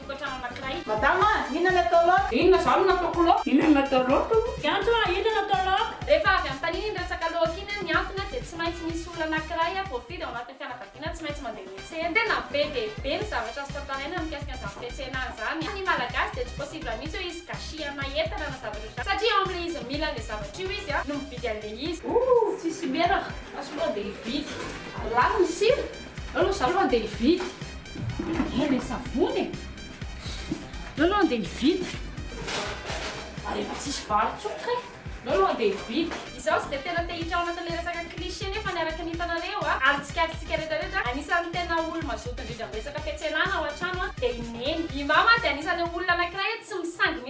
Tokantrano anankiray. Madama a! Inona ny atao laoka? Inona izany no ataoko laoka? Inona no atao laoka o? Fiantso a! Inona no atao laoka? Rehefa avy anontaniana iny resaka laoka iny a, ny antony a dia tsy maintsy misy olona anankiray a voafidy ao anatin'ny fianakaviana tsy maintsy mandeha miantsena. Tena be dia be ny zavatra azo tantaraina mikasika an'izany fiantsena izany a. Ny Malagasy dia tsy possible mihitsy hoe hisy gâchis ana entana na zavatra ohatr'izany satria ao amin'ilay izy mila an'ilay zavatra io izy a no mividy an'ilay izy. Ooh! Tsisy menaka! Fa soloina dia hividy. Lany ny sira! Aleo aloha izaho aloha handeha hividy. Mandeha ilay savony e! Aleo aloha handeha hividy. Ary efa tsisy vary intsony kay! Aleo aloha handeha hividy. Izaho tsy dia tena te hiditra ao anatin'ilay resaka cliché nefa ny araka ny hitanareo a, ary tsikaritsikay retraretra, anisan'ny tena olo-mazoto indrindra amin'ny resaka fiantsenana ao an-trano a, dia i Neny. I Mama dia anisan'ireo olona anankiray hoe tsy misangy mihitsy.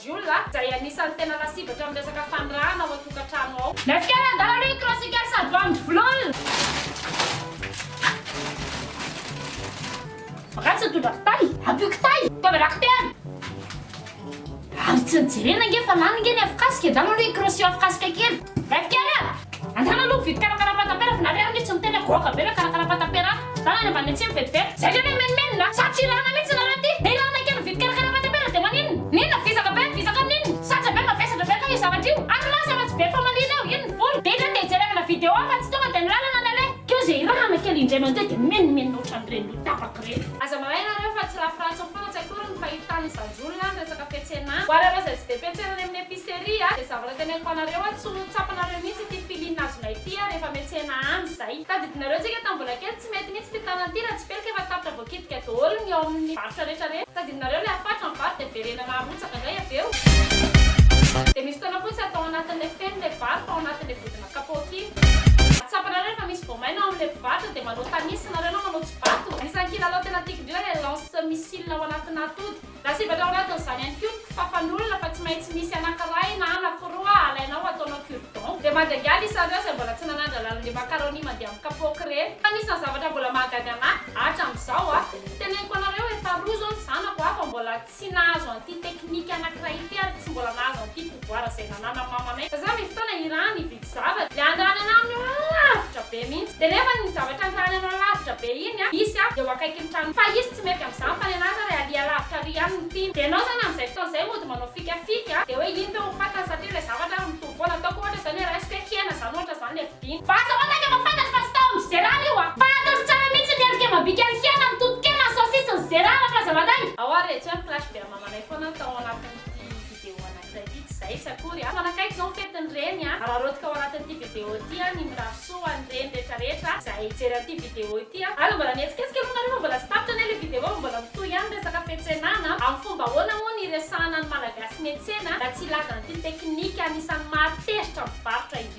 Jiolahy, izay anisan'ny tena lasibatra amin'ny resaka fanirahana ao an-tokantrano ao. Ilay fikaran-dala aloha io croisical sady bandy vlol! Vakansy nitondra kitay, ampio kitay, fitaovana kitay! Ary tsy nijerena ange fa lany ange ny afokasika, ndao aloha hikrosio afokasika kely. Gasikara! Andrana aloha mividy karakarampatapera fa nareo ange tsy miteny hoe goaka be ve karakarampatapera ato? Zany any ambany atsimo vetivety. Zay ndray ve mimenomenona? Sa tsy ilana mihitsy nareo ty? Dia ilana kely mividy karakarampatapera dia maninona? N'inona vizaka be vizaka amin'inona? Saja be mavesatra ve aloha io zavatra io? Ary lasa fa tsy be famaliana eo, iny ny vola. Dia indray dia jerevana video hafa tsy tonga dia ny lalana ny aleha. Keo zay ilana kely indray mandeha dia mimenomenona ohatran'ireny ho tapaka ireny. Aza mahay nareo fa tsy rafy ratsiny foana tsy akoriny fa io tany izany. Olona ny resaka petsenana. Hoareo ireo izay tsy dia petsena any amin'ny epicerie a, dia zavatra teneniko anareo a, tsy ho tsapanareo mihitsy ity feeling azonay ity a, rehefa metsena any izay. Tadidinareo tsika tamin'ny mbola kely, tsy mety mihitsy ity tanana ity raha tsy pelika efa tapitra voakidika daholo ny ao amin'ny varotra rehetra rehetra. Tadidinareo ilay hafatro ny vato dia verenana harotsaka indray avy eo. Dia misy fotoana fotsy atao anatin'ilay feno ilay vary fa ao anatin'ilay vodina fotsy. Kapaoty. Tsapanareo efa misy voamaina ao amin'ilay mpivarotra dia manao tanis ianareo na manao tsibato. Anisan'ny kilalao tena tiako indrindra ilay lance missile ao anatinà atody. Lasibatra ao anatin'izany ihany koa ny kifafan'olona fa tsy maintsy misy anankiray na anankiroa alainao ataonao cure dent. Dia mandraingaly isareo izay mbola tsy nanandra lalin'ireny macaroni mandeha amin'ny kapaoky ireny. Fa anisan'ny zavatra mbola mahagaga anà hatramin'izao a! Teneniko anareo efa roa izao ny zanako a fa mbola. Tsy nahazo an'ity technique anankiray ity ary tsy mbola nahazo an'ity pouvoir izay nananan'ny mamanay fa za misy fotoana hirany hividy zavatra dia andrany anah amin'io lavitra be mihitsy dia nefa iny zavatra andrany anao lavitra be iny an hisy an eo akaikin'ny tranonao fa hisy tsy mety amin'izany fa ny anah zany alia lavitra ary ihany no tiana dia ianao zany amin'izay fotoana izay mody manao fikafika dia hoe iny ve ho fatany sa teo ilay zavatra ary mitovy foana ataoko ohatra izany hoe raisiko hoe hena izany ohatra izany ilay Iny basy ao akaiky efa fantatro fa tsy tao amin'i Gérard io a! Fa ataovy tsara mihitsy ny endrika amam-bika ny hena, ny totokena, ny saosisy, ny Gérard raha f'aza madainga! Ao ary retsy hoe flash be amamanay foana ny tao anatin'ity video anankiray ity, tsy izay tsy akory a! Mifanakaiky izao ny fetin'ny reny a! Araraotika ao anatin'ity video ity a, ny mirary soa ho an'ny reny rehetra rehetra izay hijery an'ity video ity a! Aza mbola mihetsiketsika aloha nareo fa mbola tsy tapitra anie le video fa mbola mitohy ihany ny resaka fiantsenana a! Amin'ny fomba ahoana moa no hiresahana ny Malagasy miantsena raha tsy hilazana ity teknika anisan'ny mahatezitra ny mpivarotra ity?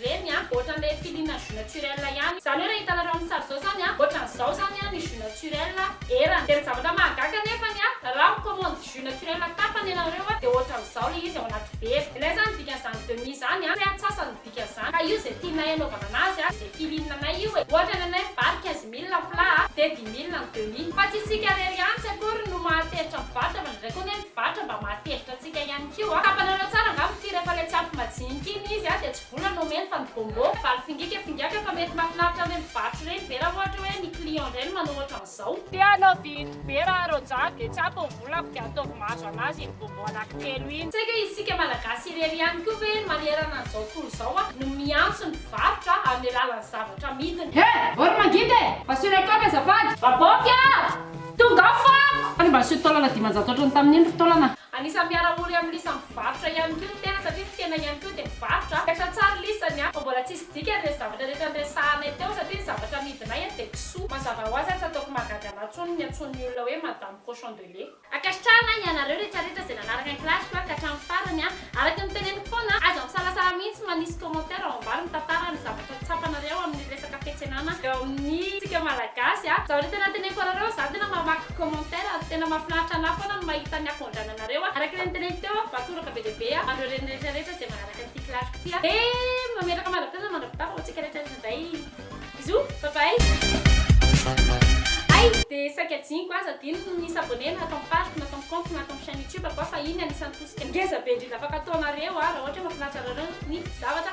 Reny a, ohatran'ilay filiana jus naturel ihany. Izany hoe raha hitanareo amin'ny sary izao izany a, ohatran'izao izany a ny jus naturel erany. Dia ny zavatra mahagaga anefany a, raha mi-commande jus naturel tapany ianareo a, dia ohatran'izao ilay izy ao anaty vera. Ilay izany ny dikan'izany demi izany a, hoe antsasany ny dikan'izany. Ka io izay tianay anaovana anazy a, izay filiana anay io e. Ohatra ny anay vary quinze mille ny plat a, dia dix mille ny demi. Fa tsy isika irery ihany tsy akory no mahatezitra mivarotra fa indraindray koa anie ny mpivarotra mba mahatezitra antsika. Tsika ihany koa. Tapanareo tsara angamba ity rehefa ilay tsy ampy majinika iny izy dia tsy vola no omeny fa ny bonbon, valo fingika fingaka fa mety mafinaritra ireny mpivarotra ireny ve raha ohatra hoe ny client indray no manao ohatra an'izao. Te hanao vide be raha roja dia tsy ampy ny vola fa dia ataovy mahazo anazy iny bonbon anaky telo iny. Tsy haiko hoe isika malagasy irery ihany koa ve manerana an'izao tontolo izao no miantso ny mpivarotra amin'ny alalan'ny zavatra amidiny. He! Vao ry mangidy e! Mba soloy ataovy azafady. Vabaofy a! Tonga fako! Ary mba aseho taolana dimanjato ohatran'ny tamin'iny ry taolana. Anisan'ny miara-ory amin'i Lisa mivarotra ihany koa ny tena satria ny tena ihany koa dia mivarotra. Misaotra tsara Lisa ny ahy fa mbola tsisy dikany ireny zavatra rehetra niresahanay teo satria ny zavatra amidinay anie dia kisoa. Mazava ho azy ary tsy ataoko mahagaga anao intsony ny antsoin' ny olona hoe Madame Cochon de lait. Ankasitrahana ianareo rehetra rehetra izay nanaraka ny clash-ko ka hatramin'ny farany a! Araka ny teneniko foana a! Aza misalasala mihitsy manisy commentaire ao ambany mitatara ny zavatra. tsapanareo amin'ny resaka fiantsenana eo amin'ny tsika malagasy a! Zao re tena teneniko anareo za tena mamaky commentaire ary tena mafinaritra anahy foana ny mahita ny akondrananareo a! Araka le niteneniko teo a vatoraka be dia be a an'ireo reny rehetra rehetra zay manaraka ity kilaliko ity a! Dia mametraka mandra-pitaina mandra-pitako ho antsika rehetra rehetra indray! Bisous! Bye bye! Hay! Dia saika adinoko aza adino ny mi s'abonner na ato amin'ny page-ko na ato amin'ny compte-ko na ato amin'ny chaine youtube-ko a fa iny anisan'ny tosika ngeza be indrindra afaka ataonareo a raha ohatra hoe mafinaritra anareo ny zavatra